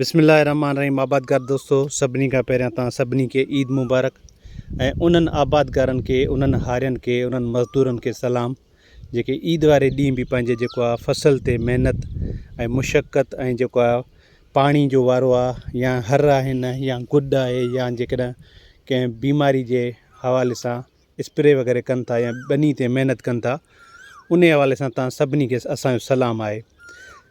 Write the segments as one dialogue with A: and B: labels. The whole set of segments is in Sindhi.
A: بسم الله الرحمٰن الرحيم آبادگار دوستو سڀني کان پهريان توهان سڀني کي عيد مبارڪ ۽ انهن آبادگارن کي انهن هارين کي انهن مزدورن کي سلام جيڪي عيد واري ڏينهن به پنهنجي جيڪو آ فصل تي محنت ۽ مشقت ۽ جيڪو آ پاڻي جو وارو آ يا هر آهن يا گڏ آهي يا جيڪڏهن ڪنهن بيماري جي حوالي سان اسپري وغيره ڪن ٿا يا ٻني تي محنت ڪن ٿا انهي حوالي سان توهان سڀني کي اسان جو سلام آهي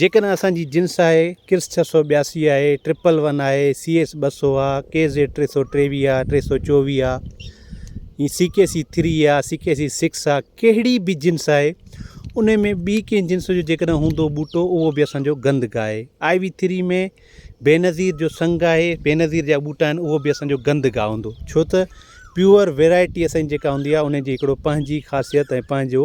A: جيڪڏهن اسان جي جنس آهي، ڪرس ڇهه سؤ ٻياسي آهي، ٽرپل ون آهي، سي ايس ٻه سؤ آ، ڪي زيڊ ٽي سؤ ٽيويهه آ، ٽي سؤ چوويهه آ، ۽ سي ڪي سي ٿري آ، سي ڪي سي سڪس آ، ڪهڙي به جنس آهي، انهي ۾ ٻي ڪنهن جنس جو جيڪڏهن هوندو ٻوٽو اهو به اسان جو گند گاهي. آء وي ٿري ۾ بينظير جو سنگ آهي، بينظير جا ٻوٽا آهن، اهو به اسان جو گند گاهه هوندو، ڇو ته پيور ويرائٽي اسان جي جيڪا هوندي آ، انهي جي هڪڙو پنهنجي خاصيت ۽ پنهنجو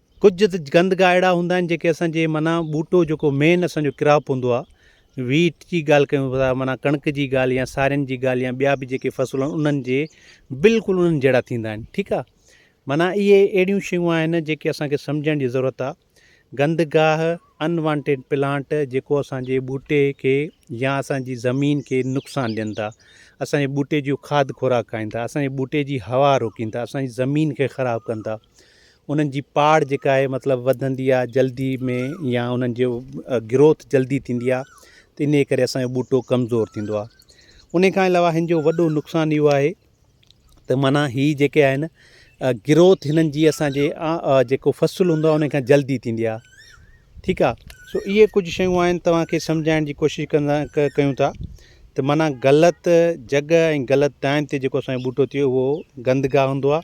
A: ڪجهه ته گند گاهه اهڙا هوندا آهن جيڪي اسان جي معنيٰ ٻوٽو جيڪو مين اسان جو ڪراپ هوندو آهي ويٽ جي ڳالهه ڪيون ٿا معنيٰ ڪڻڪ جي ڳالهه يا سارين جي ڳالهه يا ٻيا به جيڪي فصل آهن انهن جي بلڪل انهن جهڙا ٿيندا آهن ٺيڪ آهي معنيٰ اهي اهڙيون شيون آهن جيڪي اسان کي سمجهڻ جي ضرورت آهي گند گاهه ان وانٽيڊ پلانٽ جيڪو اسان جي ٻوٽي کي يا اسان جي زمين کي نقصان ڏين ٿا اسان جي ٻوٽي جون کاڌ خوراڪ کائين ٿا اسان جي ٻوٽي جي هوا روڪين ٿا اسان جي زمين کي خراب ڪن ٿا انهن جي پاڙ جيڪا آهي مطلب وڌندي آهي جلدي ۾ يا انهن جو گروٿ جلدي ٿيندي آهي ته انهي ڪري اسانجو ٻوٽو ڪمزور ٿيندو آهي انهي کان علاوه هن جو وڏو نقصان اهو آهي ته معنيٰ هي جيڪي آهن گروٿ هنن جي اسانجي جيڪو فصل هوندو آهي انهي کان جلدي ٿيندي آهي ٺيڪ آهي سو اهي ڪجهه شيون آهن توهان کي سمجهائڻ جي ڪوشش ڪندا ڪيون ٿا ته معنيٰ غلط جڳهه ۽ غلط ٽائيم تي جيڪو اسانجو ٻوٽو ٿئي اهو گندگاهه هوندو آهي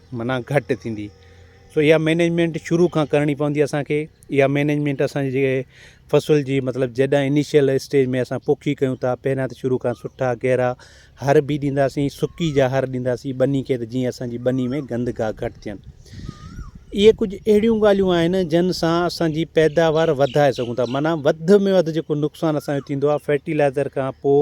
A: معنيٰ گهٽ ٿيندي سو اها مينيجمينٽ شروع کان ڪرڻي پوندي اسان کي اها مينيجمينٽ اسان جي جيڪي فصل جي مطلب جڏهن انيشل اسٽيج ۾ اسان پوکي ڪيون ٿا پهريان ته شروع کان سٺا گهرا هر بي ڏينداسين سڪي جا هر ڏينداسين ٻني کي ته جيئن اسان جي ٻني ۾ گند گاهه گهٽ ٿين اهي ڪجهه اهڙيون ڳالهيون آهن جن سان اسان جي پيداوار وڌائي سگهون ٿا معنيٰ وڌ ۾ وڌ جيڪو نقصان اسان جو ٿيندو آهي فرٽيلائزر کان پوء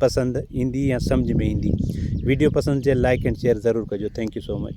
A: پسند ايندي يا سمجھ ۾ ايندي ويڊيو پسند چيل لائيڪ اينڊ شيئر ضرور ڪجو ٿينڪ يو سو مچ.